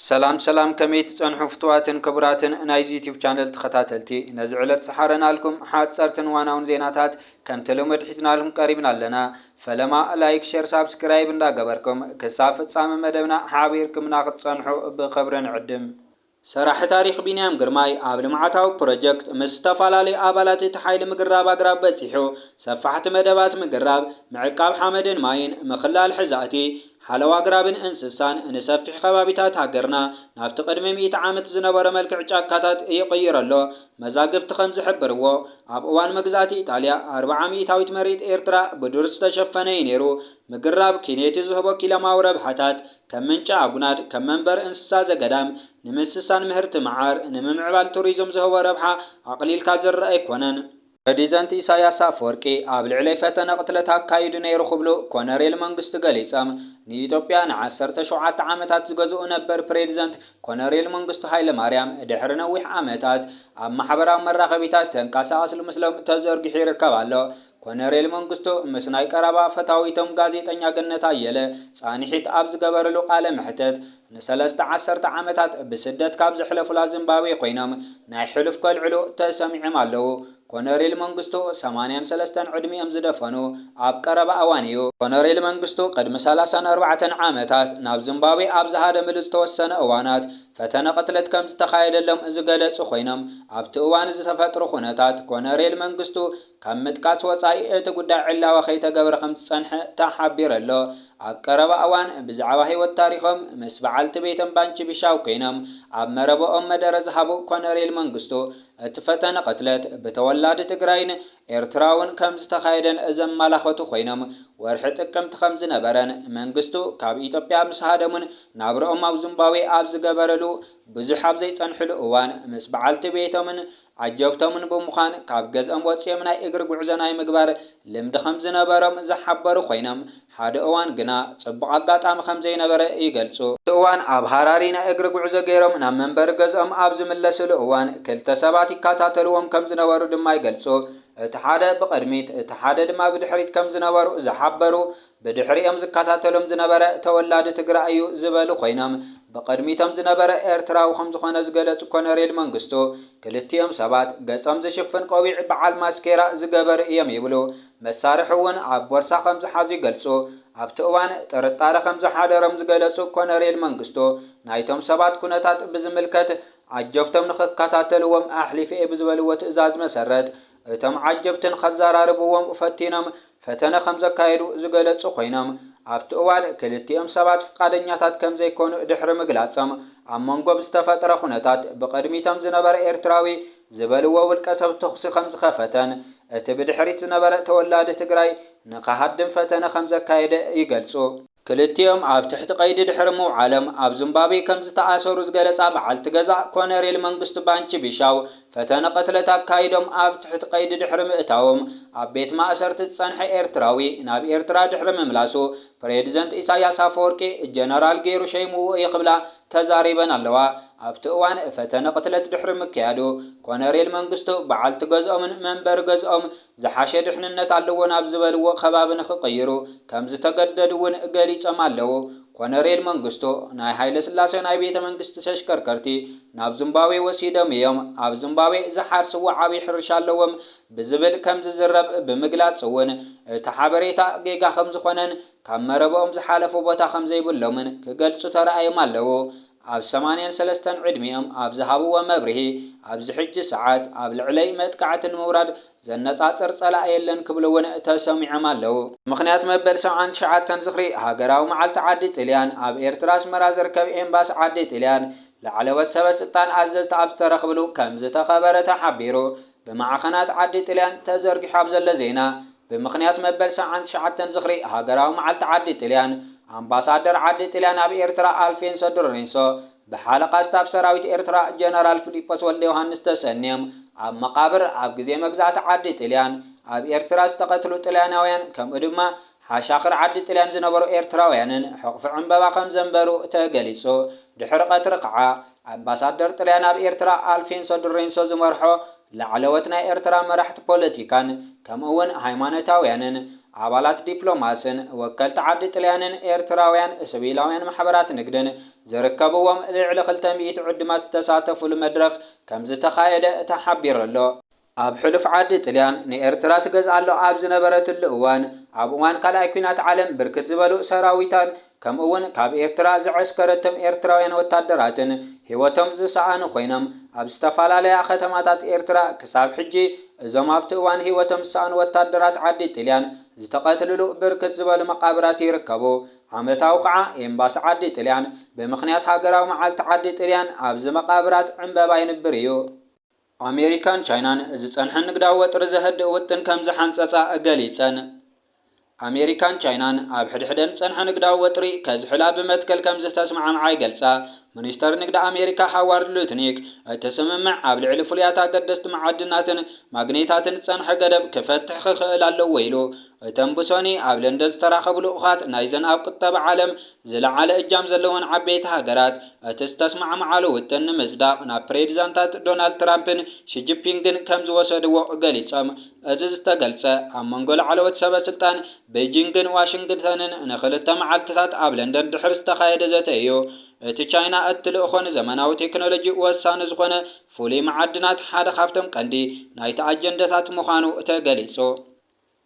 ሰላም ሰላም ከመይ ትጸንሑ ፍቱዋትን ክቡራትን ናይዚ ዩቱብ ቻነል ተኸታተልቲ ነዚ ዕለት ዝሓረናልኩም ሓጸርትን ዋናውን ዜናታት ከምቲ ልሙድ ሒዝናልኩም ቀሪብና ኣለና ፈለማ ላይክ ሸር ሳብስክራይብ እንዳ ገበርኩም ክሳብ ፍጻመ መደብና ሓቢርክምና ክትጸንሑ ብኽብሪ ንዕድም። ሰራሒ ታሪኽ ቢንያም ግርማይ ኣብ ልምዓታዊ ፕሮጀክት ምስ ዝተፈላለዩ ኣባላት እቲ ሓይሊ ምግራብ ኣግራብ በጺሑ ሰፋሕቲ መደባት ምግራብ፣ ምዕቃብ ሓመድን ማይን፣ ምኽላል ሕዛእቲ፣ ሓለዋ ኣግራብን እንስሳን ንሰፊሕ ከባቢታት ሃገርና ናብቲ ቅድሚ ሚእቲ ዓመት ዝነበሮ መልክዕ ጫካታት ይቕይሮ ኣሎ። መዛግብቲ ከም ዝሕብርዎ፣ ኣብ እዋን መግዛእቲ ኢጣልያ፣ ኣርብዓ ሚእታዊት መሬት ኤርትራ ብዱር ዝተሸፈነ እዩ ነይሩ። ምግራብ ኪንየቲ ዝህቦ ኪለማዊ ረብሓታት፣ ከም ምንጪ ኣጉናድ፣ ከም መንበሪ እንስሳ ዘገዳም፣ ንምስሳን ምህርቲ መዓር፣ ንምምዕባል ቱሪዝም ዝህቦ ረብሓ ኣቕሊልካ ዝርኣ ኣይኮነን። ፕረዲዘንት ኢሳያስ ኣፍወርቂ ኣብ ልዕለይ ፈተነ ቅትለት ኣካይዱ ነይሩ ክብሉ ኮነሬል መንግስቱ ገሊጾም። ንኢትዮጵያ ንዓሰርተ ሸውዓተ ዓመታት ዝገዝኡ ነበር ፕሬዲዘንት ኮነሬል መንግስቱ ሃይለማርያም ድሕሪ ነዊሕ ዓመታት ኣብ ማሕበራዊ መራኸቢታት ተንቃሳቓስሉ ምስሎም ተዘርጊሑ ይርከብ ኣሎ። ኮነሬል መንግስቱ ምስ ናይ ቀረባ ፈታዊቶም ጋዜጠኛ ገነት ኣየለ ጻንሒት ኣብ ዝገበርሉ ቃለ መሕተት ንሰለስተ ዓሰርተ ዓመታት ብስደት ካብ ዘሕለፉላ ዝምባብዌ ኮይኖም ናይ ሕሉፍ ከልዕሉ ተሰሚዖም ኣለዉ። ኮነሬል መንግስቱ ሰማንያን ሰለስተን ዕድሚኦም ዝደፈኑ ኣብ ቀረባ እዋን እዩ። ኮነሬል መንግስቱ ቅድሚ ሰላሳን ኣርባዕተን ዓመታት ናብ ዝምባብዌ ኣብ ዝሃደምሉ ዝተወሰነ እዋናት ፈተነ ቅትለት ከም ዝተኻየደሎም ዝገለጹ ኮይኖም ኣብቲ እዋን ዝተፈጥሩ ኩነታት ኮነሬል መንግስቱ ካብ ምጥቃስ ወጻኢ እቲ ጉዳይ ዕላዊ ከይተገብረ ከም ዝጸንሐ ተሓቢሩ ኣሎ። ኣብ ቀረባ እዋን ብዛዕባ ህይወት ታሪኾም ምስ በዓልቲ ቤቶም ባንቺ ቢሻው ኮይኖም ኣብ መረበኦም መደረ ዝሃቡ ኮነሬል መንግስቱ፣ እቲ ፈተነ ቅትለት ብተወላዲ ትግራይን ኤርትራውን ከምዝተኻየደን ዘማላኸቱ ኮይኖም ወርሒ ጥቅምቲ ከምዝነበረን መንግስቱ ካብ ኢትዮጵያ ምስ ሃደሙን ናብርኦም ኣብ ዙምባዌ ኣብ ዝገበርሉ ብዙሕ ኣብዘይፀንሕሉ እዋን ምስ በዓልቲ ቤቶምን ዓጀብቶምን ብምዃን ካብ ገዝኦም ወጺኦም ናይ እግሪ ጉዕዞ ናይ ምግባር ልምዲ ከም ዝነበሮም ዝሓበሩ ኮይኖም፣ ሓደ እዋን ግና ጽቡቕ ኣጋጣሚ ከም ዘይነበረ ይገልጹ። እቲ እዋን ኣብ ሃራሪ ናይ እግሪ ጉዕዞ ገይሮም ናብ መንበሪ ገዝኦም ኣብ ዝምለስሉ እዋን ክልተ ሰባት ይከታተልዎም ከም ዝነበሩ ድማ ይገልጹ። እቲ ሓደ ብቕድሚት እቲ ሓደ ድማ ብድሕሪት ከም ዝነበሩ ዝሓበሩ ብድሕሪኦም ዝከታተሎም ዝነበረ ተወላዲ ትግራይ እዩ ዝበሉ ኮይኖም፣ ብቕድሚቶም ዝነበረ ኤርትራዊ ከምዝኾነ ዝገለፁ ኮነሬል መንግስቱ፣ ክልቲኦም ሰባት ገፆም ዝሽፍን ቆቢዕ በዓል ማስኬራ ዝገበሩ እዮም ይብሉ። መሳርሒ እውን ኣብ ቦርሳ ከምዝሓዙ ይገልፁ። ኣብቲ እዋን ጥርጣረ ከምዝሓደሮም ዝገለፁ ኮነሬል መንግስቱ፣ ናይቶም ሰባት ኩነታት ብዝምልከት ዓጀብቶም ንኽከታተልዎም ኣሕሊፈ እየ ብዝበልዎ ትእዛዝ መሰረት፣ እቶም ዓጀብትን ከዘራርብዎም ፈቲኖም ፈተነ ከም ዘካየዱ ዝገለጹ ኮይኖም፣ ኣብቲ እዋን ክልቲኦም ሰባት ፍቃደኛታት ከም ዘይኮኑ ድሕሪ ምግላጾም፣ ኣብ መንጎ ብዝተፈጥረ ኩነታት ብቅድሚቶም ዝነበረ ኤርትራዊ ዝበልዎ ውልቀሰብ ተኹሲ ከም ዝኸፈተን እቲ ብድሕሪት ዝነበረ ተወላዲ ትግራይ ንክሃድም ፈተነ ከም ዘካየደ ይገልጹ። ክልቲኦም ኣብ ትሕቲ ቀይዲ ድሕሪ ምውዓሎም ኣብ ዙምባቤ ከምዝተኣሰሩ ዝገለፃ በዓልቲ ገዛ ኮነሬል መንግስቱ ባንቺ ቢሻው ፈተነ ቅትለት ኣካይዶም ኣብ ትሕቲ ቀይዲ ድሕሪ ምእታዎም ኣብ ቤት ማእሰርቲ ዝፀንሐ ኤርትራዊ ናብ ኤርትራ ድሕሪ ምምላሱ ፕሬድዘንት ኢሳያስ ኣፈወርቂ ጀነራል ገይሩ ሸይምዎ እየ ክብላ ተዛሪበን ኣለዋ ኣብቲ እዋን ፈተነ ቅትለት ድሕሪ ምክያዱ ኮነሬል መንግስቱ በዓልቲ ገዝኦምን መንበሪ ገዝኦም ዝሓሸ ድሕንነት ኣለዎ ናብ ዝበልዎ ከባቢ ንኽቕይሩ ከምዝተገደዱ'ውን ገሊጾም ኣለዉ። ኮነሬል መንግስቱ፣ ናይ ሃይለስላሰ ናይ ቤተ መንግስቲ ተሽከርከርቲ ናብ ዙምባብዌ ወሲዶም'ዮም፣ ኣብ ዙምባብዌ ዝሓርስዎ ዓብዪ ሕርሻ ኣለዎም ብዝብል ከምዝዝረብ ብምግላጽ'ውን እቲ ሓበሬታ ጌጋ ከምዝኾነን ካብ መረበኦም ዝሓለፉ ቦታ ከምዘይብሎምን ክገልጹ ተራእዮም ኣለዉ። ኣብ ሰማንያን ሰለስተን ዕድሚኦም ኣብ ዝሃብዎ መብርሂ፣ ኣብዚ ሕጂ ሰዓት ኣብ ልዕለይ መጥቃዕቲ ንምውራድ ዘነጻጽር ጸላኢ የለን ክብሉ እውን ተሰሚዖም ኣለዉ። ምኽንያት መበል ሰብዓን ትሽዓተን ዝኽሪ ሃገራዊ መዓልቲ ዓዲ ጥልያን ኣብ ኤርትራ ኣስመራ ዝርከብ ኤምባሲ ዓዲ ጥልያን ላዕለዎት ሰበ ስልጣን ኣዘዝቲ ኣብ ዝተረኽብሉ ከምዝተኸበረ ተሓቢሩ። ብማዕኸናት ዓዲ ጥልያን ተዘርጊሑ ኣብ ዘሎ ዜና፣ ብምኽንያት መበል ሰብዓን ትሽዓተን ዝኽሪ ሃገራዊ መዓልቲ ዓዲ ጥልያን፣ ኣምባሳደር ዓዲ ጥልያን ኣብ ኤርትራ ኣልፌንሶ ድሮሬንሶ፣ ብሓለቓ ስታፍ ሰራዊት ኤርትራ ጀነራል ፍሊጶስ ወልደዮሃንስ ተሰንዮም ኣብ መቓብር ኣብ ግዜ መግዛእቲ ዓዲ ጥልያን ኣብ ኤርትራ ዝተቐትሉ ጥልያናውያን ከምኡ ድማ ሓሻኽር ዓዲ ጥልያን ዝነበሩ ኤርትራውያንን ሕቕፊ ዕምበባ ከም ዘንበሩ ተገሊጹ። ድሕሪ ቀትሪ ከኣ፣ ኣምባሳደር ጥልያን ኣብ ኤርትራ ኣልፌንሶ ድሬንሶ ዝመርሖ ላዕለዎት ናይ ኤርትራ መራሕቲ ፖለቲካን ከምኡ'ውን ሃይማኖታውያንን ኣባላት ዲፕሎማስን ወከልቲ ዓዲ ጥልያንን ኤርትራውያን ስቪላውያን ማሕበራት ንግድን ዝርከብዎም ልዕሊ ክልተ ሚእቲ ዕዱማት ዝተሳተፍሉ መድረኽ ከም ዝተኻየደ ተሓቢሩ'ሎ። ኣብ ሕሉፍ ዓዲ ጥልያን ንኤርትራ ትገዝኣሉ ኣብ ዝነበረትሉ እዋን፣ ኣብ እዋን ካልኣይ ኩናት ዓለም ብርክት ዝበሉ ሰራዊታን ከምኡ'ውን ካብ ኤርትራ ዘዐስከረቶም ኤርትራውያን ወታደራትን ህይወቶም ዝሰኣኑ ኮይኖም፣ ኣብ ዝተፈላለያ ከተማታት ኤርትራ ክሳብ ሕጂ እዞም ኣብቲ እዋን ህይወቶም ዝሰኣኑ ወታደራት ዓዲ ጥልያን ዝተቐትልሉ ብርክት ዝበሉ መቓብራት ይርከቡ። ዓመታዊ ከኣ ኤምባሲ ዓዲ ጥልያን ብምኽንያት ሃገራዊ መዓልቲ ዓዲ ጥልያን ኣብዚ መቓብራት ዕምበባ የንብር እዩ። ኣሜሪካን ቻይናን ዝጸንሐ ንግዳዊ ወጥሪ ዘህድእ ውጥን ከም ዝሓንጸጻ ገሊጸን። ኣሜሪካን ቻይናን ኣብ ሕድሕደን ዝጸንሐ ንግዳዊ ወጥሪ ከዝሕላ ብመትከል ከም ዝተስማዕምዓ ይገልጻ። ሚኒስተር ንግዲ ኣሜሪካ ሃዋርድ ሉትኒክ፣ እቲ ስምምዕ ኣብ ልዕሊ ፍሉያት ኣገደስቲ መዓድናትን ማግኔታትን ዝጸንሐ ገደብ ክፈትሕ ክኽእል ኣለዎ ኢሉ። እተን ብሶኒ ኣብ ለንደን ዝተራኸቡ ልኡኻት ናይዘን ኣብ ቁጠባ ዓለም ዝለዓለ እጃም ዘለወን ዓበይቲ ሃገራት፣ እቲ ዝተስማዕምዓሉ ውጥን ንምጽዳቕ ናብ ፕሬዚዳንታት ዶናልድ ትራምፕን ሺጂፒንግን ከም ዝወሰድዎ ገሊጾም። እዚ ዝተገልጸ፣ ኣብ መንጎ ላዕለዎት ሰበ ስልጣን በይጂንግን ዋሽንግተንን ንክልተ መዓልቲታት ኣብ ለንደን ድሕሪ ዝተኻየደ ዘተ እዩ። እቲ ቻይና እትልእኮ ንዘመናዊ ቴክኖሎጂ ወሳኒ ዝኾነ ፍሉይ መዓድናት ሓደ ካብቶም ቀንዲ ናይቲ ኣጀንዳታት ምዃኑ ተገሊጹ።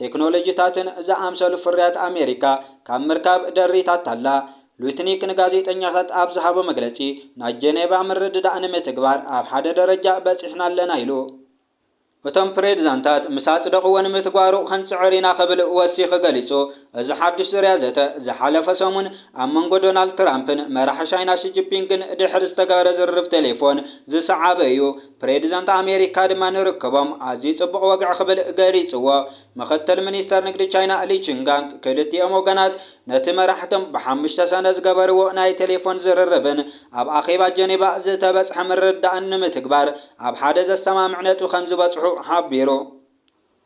ቴክኖሎጂታትን ዝኣምሰሉ ፍርያት ኣሜሪካ ካብ ምርካብ ደሪታታ'ላ። ሉትኒክ ንጋዜጠኛታት ኣብ ዝሃቦ መግለጺ፣ ናይ ጀኔቫ ምርድዳእ ንምትግባር ኣብ ሓደ ደረጃ በጺሕና ኣለና ኢሉ። እቶም ፕሬዚዳንታት ምስ ኣጽደቕዎ ንምትግባሩ ክንጽዕር ኢና ክብል ወሲኹ ገሊጹ። እዚ ሓድሽ ዙርያ ዘተ፣ ዝሓለፈ ሰሙን ኣብ መንጎ ዶናልድ ትራምፕን መራሒ ቻይና ሺጂፒንግን ድሕሪ ዝተገበረ ዝርርብ ቴሌፎን ዝሰዓበ እዩ። ፕሬዚደንት ኣሜሪካ ድማ ንርክቦም ኣዝዩ ጽቡቕ ወግዒ ክብል ገሊጽዎ። ምኽትል ሚኒስተር ንግዲ ቻይና ሊ ቺንጋንግ ክልቲኦም ወገናት ነቲ መራሕቶም ብሓሙሽተ ሰነ ዝገበርዎ ናይ ቴሌፎን ዝርርብን ኣብ ኣኼባ ጀኔቫ ዝተበጽሐ ምርድዳእን ንምትግባር ኣብ ሓደ ዘሰማምዕ ነጥቢ ከምዝበጽሑ ሓቢሩ።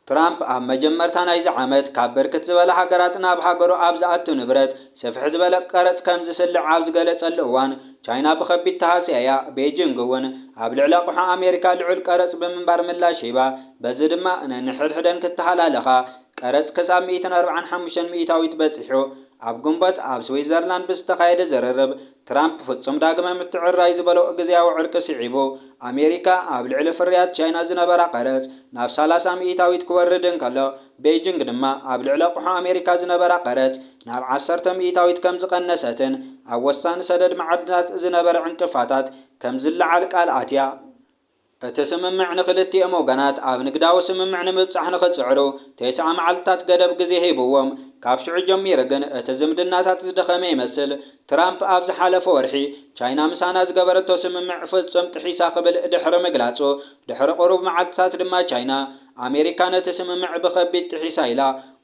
ትራምፕ ኣብ መጀመርታ ናይዚ ዓመት ካብ ብርክት ዝበላ ሃገራት ናብ ሃገሩ ኣብ ዝኣቱ ንብረት ስፍሕ ዝበለ ቀረጽ ከም ዝስልዕ ኣብ ዝገለጸሉ እዋን፣ ቻይና ብኸቢድ ተሃስያ'ያ። ቤጂንግ'ውን ኣብ ልዕሊ ኣቕሑ ኣሜሪካ ልዑል ቀረጽ ብምንባር ምላሽ ሂባ፣ በዚ ድማ ነንሕድሕደን ክተሃላለኻ ቀረጽ ክሳብ ሚእትን ኣርብዓን ሓሙሽተን ሚእታዊት በጺሑ። ኣብ ግንቦት ኣብ ስዊዘርላንድ ብዝተኻየደ ዝርርብ፣ ትራምፕ ፍጹም ዳግመ ምትዕርራይ ዝበሎ ግዝያዊ ዕርቂ ስዒቡ፣ ኣሜሪካ ኣብ ልዕሊ ፍርያት ቻይና ዝነበራ ቀረጽ ናብ ሰላሳ ምኢታዊት ክወርድ እንከሎ፣ ቤይጂንግ ድማ ኣብ ልዕሊ ኣቕሑ ኣሜሪካ ዝነበራ ቀረጽ ናብ ዓሰርተ ምኢታዊት ከም ዝቐነሰትን ኣብ ወሳኒ ሰደድ መዓድናት ዝነበረ ዕንቅፋታት ከም ዝለዓል ቃል ኣትያ። እቲ ስምምዕ ንክልቲኦም ወገናት ኣብ ንግዳዊ ስምምዕ ንምብጻሕ ንክጽዕሩ ተስዓ መዓልትታት ገደብ ግዜ ሂብዎም። ካብ ሽዑ ጀሚሩ ግን እቲ ዝምድናታት ዝደኸመ ይመስል። ትራምፕ ኣብ ዝሓለፈ ወርሒ ቻይና ምሳና ዝገበረቶ ስምምዕ ፍጹም ጥሒሳ ክብል ድሕሪ ምግላጹ፣ ድሕሪ ቁሩብ መዓልትታት ድማ ቻይና፣ ኣሜሪካ ነቲ ስምምዕ ብኸቢድ ጥሒሳ ኢላ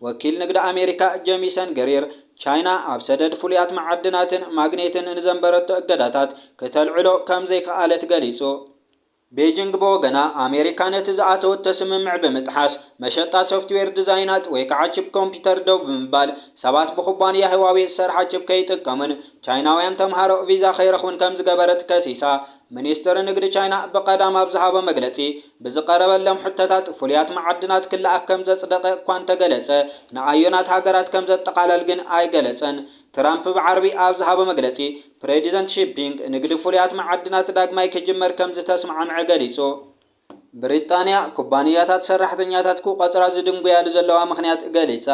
ወኪል ንግዲ ኣሜሪካ ጀሚሰን ግሪር ቻይና ኣብ ሰደድ ፍሉያት መዓድናትን ማግኔትን ንዘንበረቶ እገዳታት ክተልዕሎ ከም ዘይከኣለት ገሊጹ። ቤጂንግ ብወገና፣ ኣሜሪካ ነቲ ዝኣተወቶ ስምምዕ ብምጥሓስ፣ መሸጣ ሶፍትዌር ዲዛይናት ወይ ከዓ ቺፕ ኮምፒተር ደው ብምባል፣ ሰባት ብኩባንያ ህዋዌ ዝሰርሓ ቺፕ ከይጥቀሙን ቻይናውያን ተምሃሮ ቪዛ ከይረኽቡን ከም ዝገበረት ከሲሳ። ሚኒስትሪ ንግዲ ቻይና ብቐዳም ኣብ ዝሃቦ መግለጺ፣ ብዝቐረበሎም ሕቶታት ፍሉያት መዓድናት ክለኣኽ ከም ዘጽደቐ እኳ እንተገለጸ፣ ንኣዮናት ሃገራት ከም ዘጠቓለል ግን ኣይገለጸን። ትራምፕ ብዓርቢ ኣብ ዝሃቦ መግለጺ፣ ፕሬዚደንት ሺ ፒንግ ንግዲ ፍሉያት መዓድናት ዳግማይ ክጅመር ከም ዝተስማዕምዐ ገሊጹ። ብሪጣንያ፣ ኩባንያታት ሰራሕተኛታት ክቖጽራ ዝድንጉያሉ ዘለዋ ምኽንያት ገሊጻ።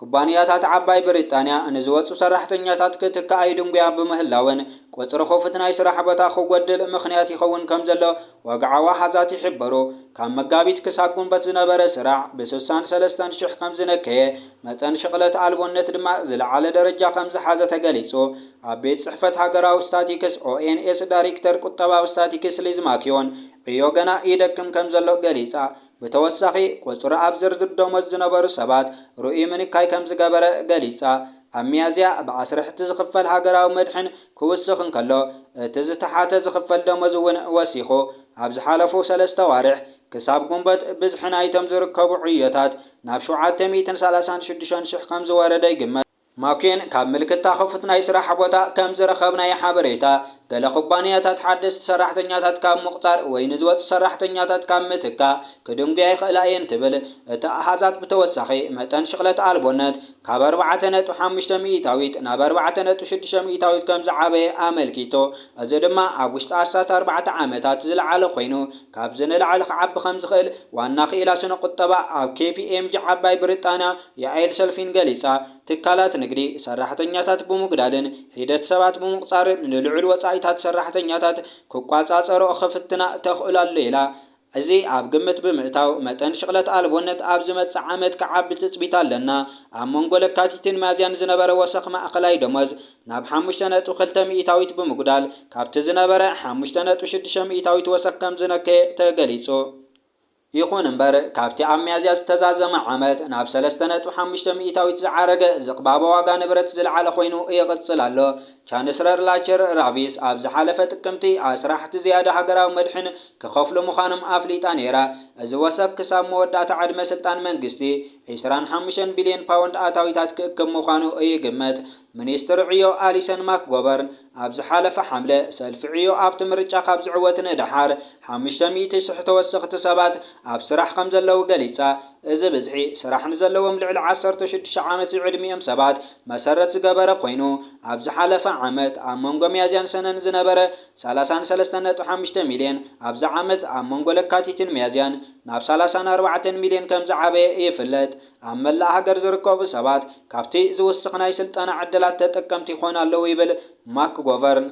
ኩባንያታት ዓባይ ብሪጣንያ ንዝወጹ ሰራሕተኛታት ክትካኣ ይድንጉያ ብምህላወን፣ ቁጽሪ ክፉት ናይ ስራሕ ቦታ ክጎድል ምኽንያት ይኸውን ከምዘሎ ወግዓዊ ኣሃዛት ይሕብሩ። ካብ መጋቢት ክሳብ ጉንበት ዝነበረ ስራሕ ብስሳን ሰለስተን ሽሕ ከምዝነከየ፣ መጠን ሽቕለት ኣልቦነት ድማ ዝለዓለ ደረጃ ከምዝሓዘ ተገሊጹ። ኣብ ቤት ጽሕፈት ሃገራዊ ስታቲክስ፣ ONS፣ ዳሪክተር ቁጠባዊ ስታቲክስ ሊዝ ማክዮን፣ ዕዮ ገና ይደክም ከምዘሎ ገሊጻ። ብተወሳኺ፣ ቁጽሪ ኣብ ዝርዝር ደሞዝ ዝነበሩ ሰባት ርኡይ ምንካይ ከም ዝገበረ ገሊጻ። ኣብ ሚያዝያ፣ ብኣስርሕቲ ዝኽፈል ሃገራዊ መድሕን ክውስኽ እንከሎ፣ እቲ ዝተሓተ ዝኽፈል ደሞዝ እውን ወሲኹ። ኣብ ዝሓለፉ ሰለስተ ኣዋርሕ፣ ክሳብ ግንቦት፣ ብዝሒ ናይቶም ዝርከቡ ዕዮታት ናብ ሸውዓተ ሚእትን ሰላሳን ሽዱሽተን ሽሕ ከም ዝወረደ ይግመት። ማኩዌን ካብ ምልክታ ክፉት ናይ ስራሕ ቦታ ከም ዝረኸብናዮ ሓበሬታ፣ ገለ ኩባንያታት ሓደስቲ ሰራሕተኛታት ካብ ምቑጻር ወይ ንዝወጹ ሰራሕተኛታት ካብ ምትካእ ክድንጉያ ይኽእላ እየን ትብል። እቲ ኣሃዛት ብተወሳኺ፣ መጠን ሽቕለት ኣልቦነት ካብ ኣርባዕተ ነጥቢ ሓሙሽተ ሚኢታዊት ናብ ኣርባዕተ ነጥቢ ሽዱሽተ ሚኢታዊት ከም ዝዓበየ ኣመልኪቱ፣ እዚ ድማ ኣብ ውሽጢ ኣስታት ኣርባዕተ ዓመታት ዝለዓለ ኮይኑ ካብዚ ንላዕሊ ክዓቢ ከም ዝኽእል ዋና ክኢላ ስነ-ቁጠባ ኣብ ኬፒኤምጂ ዓባይ ብሪጣንያ ያዔል ሰልፊን ገሊጻ። ትካላት ንግዲ፣ ሰራሕተኛታት ብምጉዳልን ሒደት ሰባት ብምቑጻርን ንልዑል ወጻኢታት ሰራሕተኛታት ክቋጻጸርኦ ክፍትና ተኽእሎ ኣሎ ኢላ። እዚ ኣብ ግምት ብምእታው፣ መጠን ሽቕለት ኣልቦነት ኣብ ዝመጽእ ዓመት ክዓቢ ትጽቢት ኣለና። ኣብ መንጎ ለካቲትን ሚያዝያን ዝነበረ ወሰኽ ማእከላይ ደሞዝ ናብ ሓሙሽተ ነጥቢ ክልተ ሚኢታዊት ብምጉዳል ካብቲ ዝነበረ ሓሙሽተ ነጥቢ ሽዱሽተ ሚኢታዊት ወሰኽ ከምዝነከየ ተገሊጹ። ይኹን እምበር፣ ካብቲ ኣብ ሚያዝያ ዝተዛዘመ ዓመት ናብ ሰለስተ ነጥቢ ሓሙሽተ ሚኢታዊት ዝዓረገ ዝቕባበ ዋጋ ንብረት ዝለዓለ ኮይኑ ይቕጽል ኣሎ። ቻንስረር ላቸር ራቪስ ኣብ ዝሓለፈ ጥቅምቲ፣ ኣስራሕቲ ዝያዳ ሃገራዊ መድሕን ክኸፍሉ ምዃኖም ኣፍሊጣ ነይራ። እዚ ወሰኽ ክሳብ መወዳእታ ዕድመ ስልጣን መንግስቲ፣ ዕስራን ሓሙሽተን ቢልዮን ፓውንድ ኣታዊታት ክእክብ ምዃኑ ይግመት። ሚኒስትር ዕዮ ኣሊሰን ማክጎበርን፣ ኣብ ዝሓለፈ ሓምለ፣ ሰልፊ ዕዮ ኣብቲ ምርጫ ካብ ዝዕወት ንደሓር ሓሙሽተ ሚእቲ ሽሕ ተወሰኽቲ ሰባት ኣብ ስራሕ ከምዘለዉ ገሊጻ። እዚ ብዝሒ፣ ስራሕ ንዘለዎም ልዕሊ ዓሰርተ ሽዱሽተ ዓመት ዝዕድሚኦም ሰባት መሰረት ዝገበረ ኰይኑ፣ ኣብ ዝሓለፈ ዓመት ኣብ መንጐ ሚያዝያን ሰነን ዝነበረ ሰላሳን ሰለስተን ነጥቢ ሓሙሽተ ሚልዮን፣ ኣብዚ ዓመት ኣብ መንጐ ለካቲትን ሚያዝያን ናብ ሰላሳን ኣርባዕተን ሚልዮን ከምዝዓበየ ይፍለጥ። ኣብ መላእ ሃገር ዝርከቡ ሰባት ካብቲ ዝውስኽ ናይ ስልጠና ዕድላት ተጠቀምቲ ይኾኑ ኣለዉ ይብል ማክጎቨርን።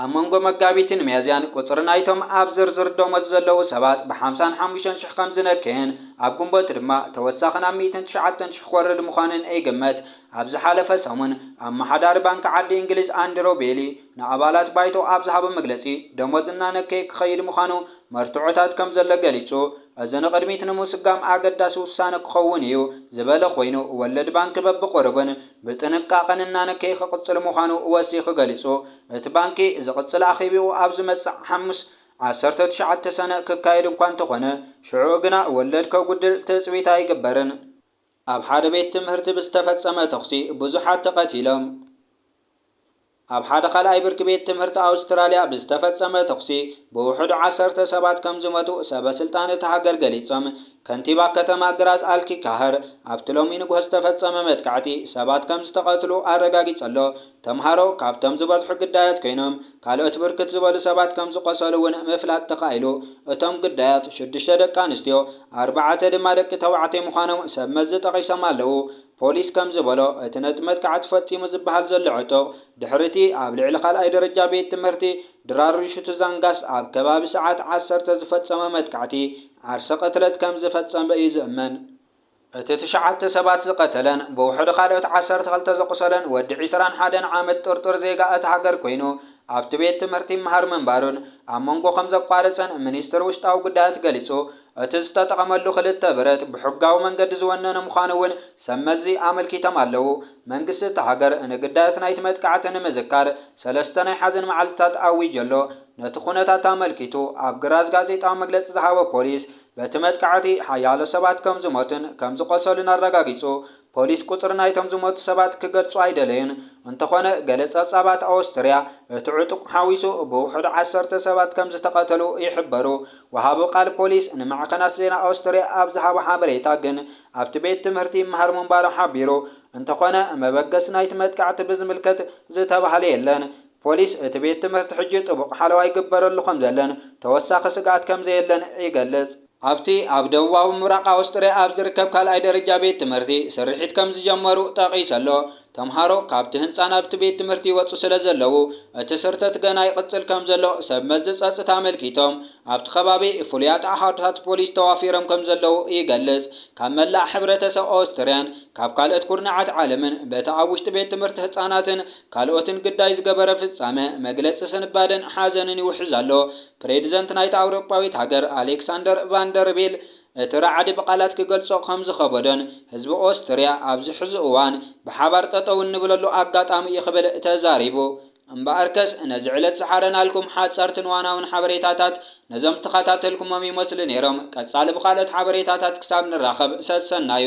ኣብ መንጎ መጋቢትን ሚያዝያን ቁጽሪ ናይቶም ኣብ ዝርዝር ደሞዝ ዘለዉ ሰባት ብሓምሳን ሓሙሽተን ሽሕ ከም ዝነከየን ኣብ ግንቦት ድማ ተወሳኺ ናብ ሚእትን ትሽዓተን ሽሕ ክወርድ ምዃኑን ይግመት። ኣብ ዝሓለፈ ሰሙን ኣመሓዳሪ ባንኪ ዓዲ እንግሊዝ ኣንድረው ቤሊ ንኣባላት ባይቶ ኣብ ዝሃቦ መግለጺ ደሞዝ እናነከየ ክኸይድ ምዃኑ መርትዖታት ከም ዘሎ ገሊጹ። እዚ ንቕድሚት ንምስጓም ኣገዳሲ ውሳነ ክኸውን እዩ ዝበለ ኮይኑ፣ ወለድ ባንኪ በብቑሩብን ብጥንቃቐን እናነከየ ክቕፅል ምዃኑ ወሲኹ ገሊፁ። እቲ ባንኪ ዝቕፅል ኣኼቢኡ ኣብ ዝመፅእ ሓሙስ ዓሰርተ ትሽዓተ ሰነ ክካየድ እኳ እንተኾነ ሽዑኡ ግና ወለድ ከጉድል ትፅቢት ኣይግበርን። ኣብ ሓደ ቤት ትምህርቲ ብዝተፈፀመ ተኹሲ ብዙሓት ተቐቲሎም። ኣብ ሓደ ካልኣይ ብርኪ ቤት ትምህርቲ ኣውስትራልያ ብዝተፈጸመ ተኹሲ ብውሕዱ ዓሰርተ ሰባት ከምዝሞቱ ሰበስልጣን እታ ሃገር ገሊጾም። ከንቲባ ከተማ ግራዝ ኣልኪ ካህር ኣብቲ ሎሚ ንግሆ ዝተፈጸመ መጥቃዕቲ ሰባት ከምዝተቐትሉ ኣረጋጊጸ'ሎ። ተምሃሮ ካብቶም ዝበዝሑ ግዳያት ኮይኖም ካልኦት ብርክት ዝበሉ ሰባት ከምዝቖሰሉ'ውን ምፍላጥ ተኻኢሉ። እቶም ግዳያት ሽዱሽተ ደቂ ኣንስትዮ ኣርባዕተ ድማ ደቂ ተባዕትዮ ምዃኖም ሰብመዚ ጠቒሶም ኣለዉ። ፖሊስ ከም ዝበሎ፣ እቲ ነቲ መጥቃዕቲ ፈጺሙ ዝበሃል ዘሎ ዕጡቕ፣ ድሕሪ'ቲ ኣብ ልዕሊ ካልኣይ ደረጃ ቤት ትምህርቲ ድራርሹቱዛንጋስ ኣብ ከባቢ ሰዓት ዓሰርተ ዝፈጸሞ መጥቃዕቲ ዓርሰ ቅትለት ከም ዝፈጸመ እዩ ዝእመን። እቲ ትሽዓተ ሰባት ዝቐተለን ብውሕዱ ካልኦት ዓሰርተ ክልተ ዘቝሰለን ወዲ ዕስራን ሓደን ዓመት ጥርጡር ዜጋ እታ ሃገር ኰይኑ፣ ኣብቲ ቤት ትምህርቲ ይመሃር ምንባሩን ኣብ መንጐ ከም ዘቋረጸን ሚኒስትሪ ውሽጣዊ ጉዳያት ገሊጹ። እቲ ዝተጠቐመሉ ክልተ ብረት ብሕጋዊ መንገዲ ዝወነነ ምዃኑ እውን ሰብ መዚ ኣመልኪቶም ኣለዉ። መንግስቲ እታ ሃገር ንግዳያት ናይቲ መጥቃዕቲ ንምዝካር ሰለስተ ናይ ሓዘን መዓልትታት ኣዊጁ ኣሎ። ነቲ ኩነታት ኣመልኪቱ ኣብ ግራዝ ጋዜጣዊ መግለጺ ዝሃበ ፖሊስ፣ በቲ መጥቃዕቲ ሓያሎ ሰባት ከምዝሞቱን ከምዝቖሰሉን ኣረጋጊጹ። ፖሊስ ቁጽሪ ናይቶም ዝሞቱ ሰባት ክገልጹ ኣይደለዩን፣ እንተዀነ ገለ ጸብጻባት ኣወስትርያ፣ እቲ ዕጡቕ ሓዊሱ ብውሑዱ ዓሰርተ ሰባት ከም ዝተቐተሉ ይሕበሩ። ወሃቢ ቃል ፖሊስ ንማዕከናት ዜና ኣወስትርያ ኣብ ዝሃቦ ሓበሬታ ግን ኣብቲ ቤት ትምህርቲ ይመሃር ምንባሩ ሓቢሩ፣ እንተዀነ መበገሲ ናይቲ መጥቃዕቲ ብዝምልከት ዝተባህለ የለን። ፖሊስ እቲ ቤት ትምህርቲ ሕጂ ጥቡቕ ሓለዋ ይግበረሉ ከም ዘሎን ተወሳኺ ስግኣት ከም ዘየለን ይገልጽ። ኣብቲ ኣብ ደቡባዊ ምብራቕ ኣውስትርያ ኣብ ዝርከብ ካልኣይ ደረጃ ቤት ትምህርቲ ስርሒት ከም ዝጀመሩ ጠቒሱ ኣሎ። ተምሃሮ ካብቲ ህንጻ ናብቲ ቤት ትምህርቲ ይወጹ ስለ ዘለዉ፣ እቲ ስርተት ገና ይቕጽል ከም ዘሎ ሰብ መዚ ጸጽታ ኣመልኪቶም። ኣብቲ ከባቢ ፍሉያት ኣሃዱታት ፖሊስ ተዋፊሮም ከም ዘለዉ ይገልጽ። ካብ መላእ ሕብረተሰብ ኦስትርያን ካብ ካልኦት ኩርናዓት ዓለምን በቲ ኣብ ውሽጢ ቤት ትምህርቲ ህጻናትን ካልኦትን ግዳይ ዝገበረ ፍጻመ መግለጺ ስንባደን ሓዘንን ይውሕዝ ኣሎ። ፕሬዚደንት ናይታ ኣውሮጳዊት ሃገር ኣሌክሳንደር ቫን ደር ቤል እቲ ራዕዲ ብቓላት ክገልጾ ከም ዝኸበዶን ህዝቢ ኦስትርያ ኣብዚ ሕዚ እዋን ብሓባር ጠጠው እንብለሉ ኣጋጣሚ እዩ ክብል ተዛሪቡ። እምበኣርከስ ነዚ ዕለት ዝሓረናልኩም ሓጸርትን ዋናውን ሓበሬታታት ነዞም ዝተኸታተልኩሞም ይመስሉ ነይሮም። ቀጻሊ ብካልኦት ሓበሬታታት ክሳብ ንራኸብ ሰሰናዩ።